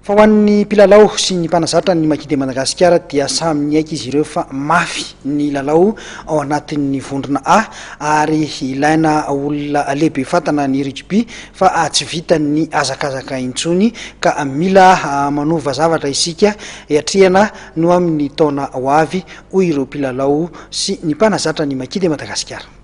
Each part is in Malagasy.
Fa ho an'ny mpilalao sy ny mpanazatra ny Maquis de Madagasikara dia samy niaiky izy ireo fa mafy ny lalao ao anatin'ny vondrona A ary ilaina olona lehibe fatana ny rugby fa tsy vitan'ny hazakazaka intsony ka mila manova zavatra isika hiatrehana no amin'ny taona ho avy, hoy ireo mpilalao sy ny mpanazatra ny Maquis de Madagasikara.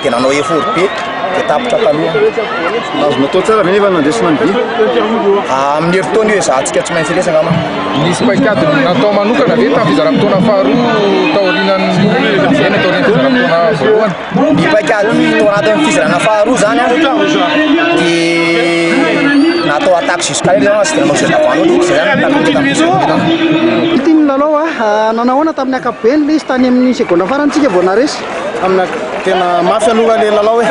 dia nanao effort be dia tapitra taloha azo natao tsara ve nefa nandresina ny vy ah, amin'ny herintaona io ezahantsika tsy maintsy resaka ma nisy paikady natao manokana ve tamin'ny fizaram-potoana faharoa taorianan'ny eny taorian'ny fizaram-potoana voalohany ny paikady tao anatin'ny fizarana faharoa zany a dia natao attaque jusqu'à io zany tsy dia nanao zerda valo loatra zay zany tamin'ny tamin'ny nanao a ah, nanahoana tamin'ny akapobeny le izy tany amin'ny seconde farantsika vao naresy amina tena mafy aloha le lalao e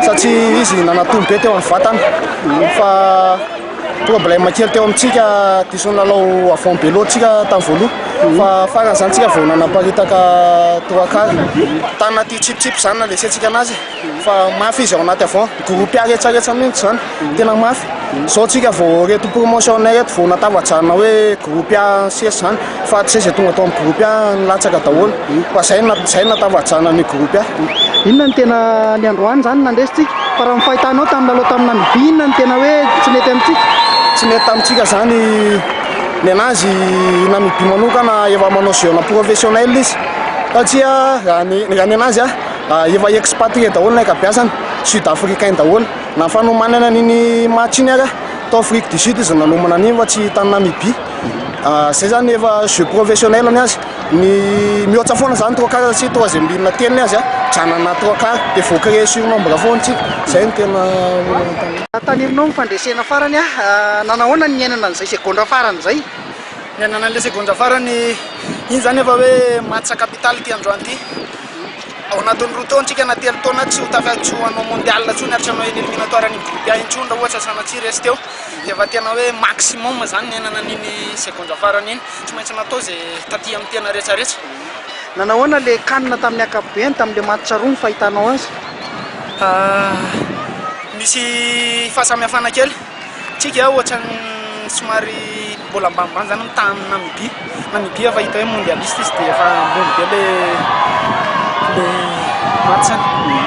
satria izy nanatombo be teo amin'ny vatana fa tonga mbola makely teo amintsika dison'ny lalao avant belo tsika tamin'ny voaloha fa farany zany tsika vao nanaparitaka trois quart tana ty chip chip zany na lesentsika anazy fa mafy izy ao anaty avant groupe aretsaretsany mihitsy zany Tena mafy. Zao tsika vao reto promotion nay reto vao natavajana hoe groupe A sesy zany fa tsy zay tonga tao amin'ny groupe A nilatsaka daholo fa zay zay natavajana ny groupe A. Inona ny tena ny androany zany nandresy tsika fa raha ny fahitanao tamin'ny lalao tamin'ny Namibia inona ny tena hoe tsy nety amintsika? Tsy nety tamintsika zany nenazy i Namibia manokana efa manao jeu ana professionnel izy satria raha ny raha nenazy a efa expatrié daholo ny ankabiazany sud africain daholo. Na fanomanana an'iny match iny ara tao Afrique du Sud izy no nanomana an'iny fa tsy tany Namibie. Izay zany efa jeu professionnel ny azy. Ny mihoatsa foana zany trois quarts satria troisième ligne telo ny azy a. Janona trois quarts dia vao créer surnombre foana tsika. Izay no tena olana. Tanirinao ny fandresena farany a, nanao ahoana ny niainana an'izay segondra farany izay? Niainana an'ilay segondra farany iny zany efa hoe match capital ity androany ity. Ao anatin'ny roa taona tsika na telo taona tsy ho tafaky hanao mondial intsony ary tsy hanao eny eliminatoire ny groupe A intsony raha ohatra sanatria resy teo dia efa tena hoe maximum izany niainana an'iny seconde farany iny tsy maintsy natao izay taty amin'ny tena rehetra rehetra Nanao ahoana ilay can tamin'ny ankapobeny tamin'ilay match roa ny fahitanao azy? Misy fahasamihafana kely tsika ohatran'ny somary mbola ambanimbany zany ny tahan'ny Namibia, Namibia efa hita hoe mondialiste izy dia efa ambony be le le match-ny.